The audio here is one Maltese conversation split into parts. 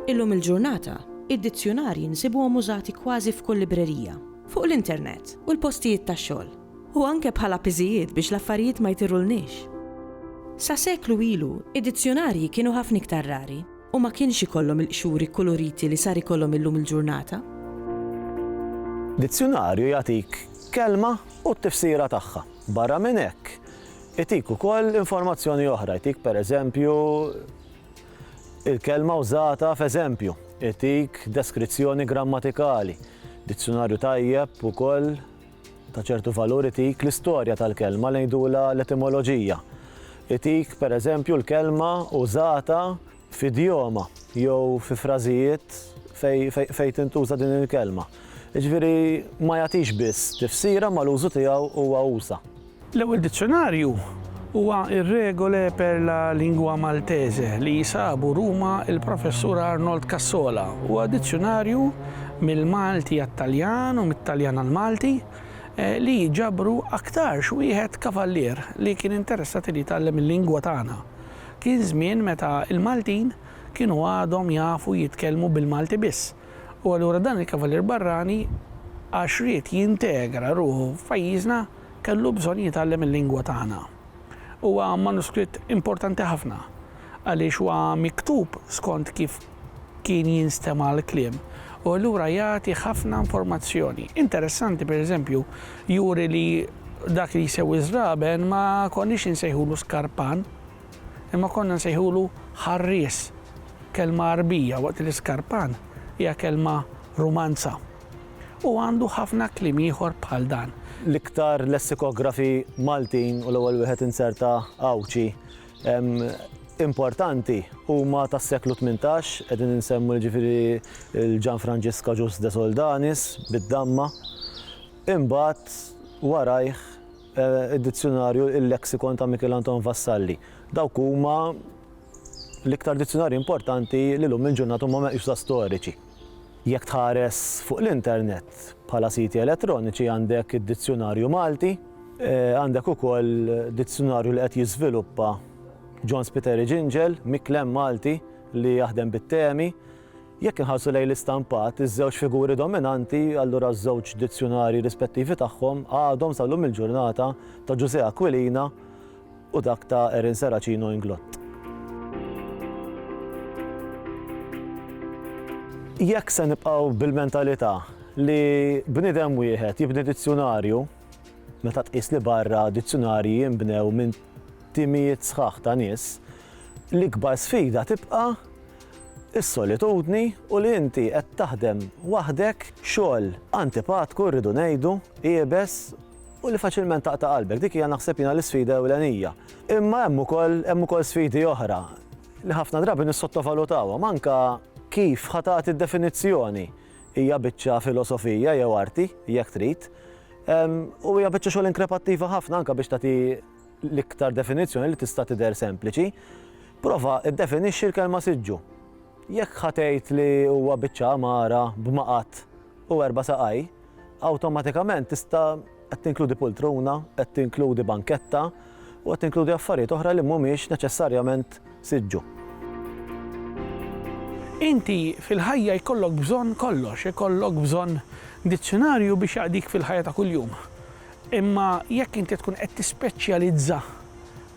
Illum il-ġurnata, id-dizzjunarji nsibuhom użati kważi f'kull librerija, fuq l-internet u l-postijiet tax-xogħol, u anke bħala piżijiet biex l-affarijiet ma jtirulniex. Sa seklu ilu, id-dizzjunarji kienu ħafna iktar rari. u ma kienx ikollhom il-qxuri kkuluriti li sar ikollhom illum il-ġurnata. Dizzjunarju jagħtik kelma u t-tifsira tagħha. Barra minn hekk, itik ukoll informazzjoni oħra, jtik pereżempju il-kelma wżata f'eżempju, itik deskrizzjoni grammatikali. Dizzjunarju tajjeb ukoll ta' ċertu valur itik l-istorja tal-kelma, ngħidulha l-etimoloġija. Itik, per eżempju, l-kelma użata f'idjoma jew fi frażijiet fejn tintuża din il-kelma. Jiġifieri ma jagħtix biss tifsira ma l-użu tiegħu huwa usa'. L-ewwel dizzjunarju huwa r-Regole per la lingua maltese li sabu Ruma l-Professur Arnold Cassola. Huwa dizzjunarju mill-Malti għat-Taljan u mit-Taljan għall-Malti li ġabru aktarx wieħed kavallier li kien interessat li jitgħallem il-lingwa tagħna. Kien żmien meta l-Maltin kienu għadhom jafu jitkellmu bil-Malti biss u allura dan il-kavallier barrani għax ried jintegra ruħu f'pajjiżna, Kellu bżonn jitgħallem il-lingwa tagħna. Huwa manuskritt importanti ħafna għaliex huwa miktub skont kif kien jinstema' l-kliem u allura jagħti ħafna informazzjoni interessanti, per eżempju, juri li dak li jsewwi ż-żraben ma konniex insejħulu skarpan imma konna nsejħulu ħarries, kelma Għarbija waqt li skarpan hija kelma Rumanza. U għandu ħafna kliem ieħor bħal dan. L-iktar lessikografi Maltin, u l-ewwel wieħed inzerta Għawdxi, importanti huma tas-seklu tmintax, qegħdin insemmu jiġifieri l-Gianfrancesca Jus de Soldanis bid-damma. Imbagħad warajh id-dizzjunarju Il-Lexicon ta' Mikiel Anton Vassalli. Dawk huma l-iktar dizzjunarji importanti li llum il-ġurnata huma meqjusa storiċi. Jekk tħares fuq l-internet bħala siti elettroniċi għandek id-Dizzjunarju Malti, għandek ukoll dizzjunarju li qed jiżviluppa John Spiteri Ġinġel, miklem Malti li jaħdem bit-temi. Jekk inħarsu lejn l-istampat, iż-żewġ figuri dominanti, allura ż-żewġ dizzjunarji rispettivi tagħhom għadhom sal-lum il-ġurnata ta' Ġużè Aquilina, u dak ta' Erin Serracino Inglott. Jekk se nibqgħu bil-mentalità li bniedem wieħed jibni dizzjunarju, meta tqis li barra dizzjunarji jinbnew minn timijiet sħaħ ta' nies, l-ikbar sfida tibqa' is-solitudni u li inti qed taħdem waħdek xogħol antipatku rridu ngħidu, iebes, u li faċilment taqta' qalbek. Dik hija naħseb jiena l-isfida ewlenija. Imma hemm ukoll hemm ukoll sfidi oħra li ħafna drabi nissottovalutawhom, anke kif ħa tagħti d-definizzjoni. Hija biċċa filosofija jew arti, jekk trid, u hija biċċa xogħol inkrepattiva ħafna anke biex tagħti l-iktar definizzjoni li tista' tidher sempliċi. Prova iddefinixxi l-kelma siġġu. Jekk ħa tgħid li huwa biċċa għamara b'maqgħad u erba' saqaj, Awtomatikament tista' qed tinkludi pultruna, qed tinkludi banketta u qed tinkludi affarijiet oħra li mhumiex neċessarjament siġġu. Inti fil-ħajja jkollok bżonn kollox, ikollok bżonn dizzjunarju biex jaqdik fil-ħajja ta' kuljum. Imma jekk inti tkun qed tispeċjalizza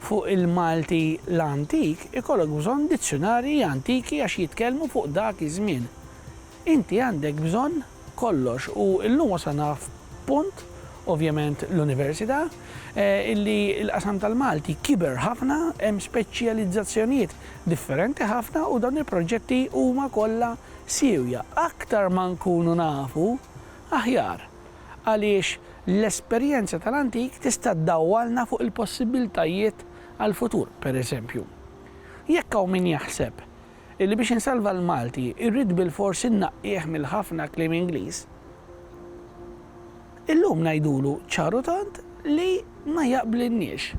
fuq il-Malti l-antik, ikollok bżonn dizzjunarji antiki għax jitkellmu fuq dak iż-żmien. Inti għandek bżonn kollox u llum wasalna f'punt, ovvjament l-università, illi l-qasam tal-Malti kiber ħafna, hemm speċjalizzazzjonijiet differenti ħafna u dawn il-proġetti huma kollha siewja. Aktar ma nkunu nafu, aħjar, għaliex l-esperjenza tal-antik tista' ddawwalna fuq il-possibbiltajiet għall-futur. Pereżempju, jekk hawn min jaħseb illi biex insalva l-Malti rrid bilfors innaqqih mill-ħafna kliem Ingliż, illum ngħidulu ċar u tond li ma jaqblilniex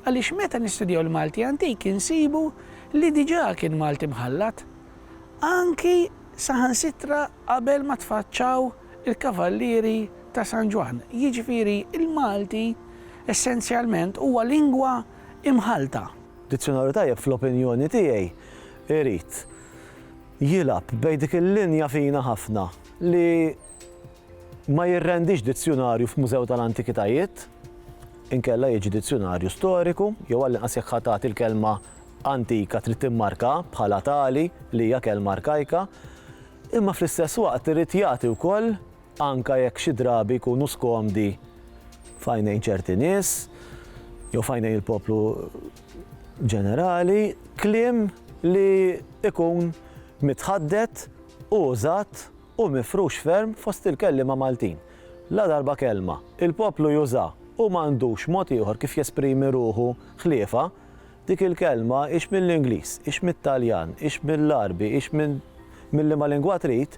għaliex meta nistudjaw l-Malti antik insibu li diġà kien Malti mħallat, anki saħansitra qabel ma tfaċċaw il-Kavallieri ta' San Ġwann, jiġifieri l-Malti essenzjalment huwa lingwa imħallta. Dizzjonarju tajjeb fl-opinjoni tiegħi. Irid jilgħab bejn dik il-linja fina ħafna li ma jirrendix dizzjunarju f'mużew tal-antikitajiet, inkella jiġi dizzjunarju storiku, jew għall-inqas jekk ħa tagħti l-kelma antika trid timmarka bħala tali li hija kelma arkajka, imma fl-istess waqt irid jagħti wkoll anke jekk xi drabi jkunu skomdi f'għajnejn ċerti nies jew f'għajnejn il-poplu ġenerali, kliem li jkun mitħaddet u użat u mifrux ferm fost il-kelliema Maltin. Ladarba kelma, il-poplu juża u m'għandux mod ieħor kif jesprimi ruħu ħliefha, dik il-kelma hix mill-Ingliż, hix mit-Taljan, hix mill-Għarbi, hix mill-liema lingwa trid,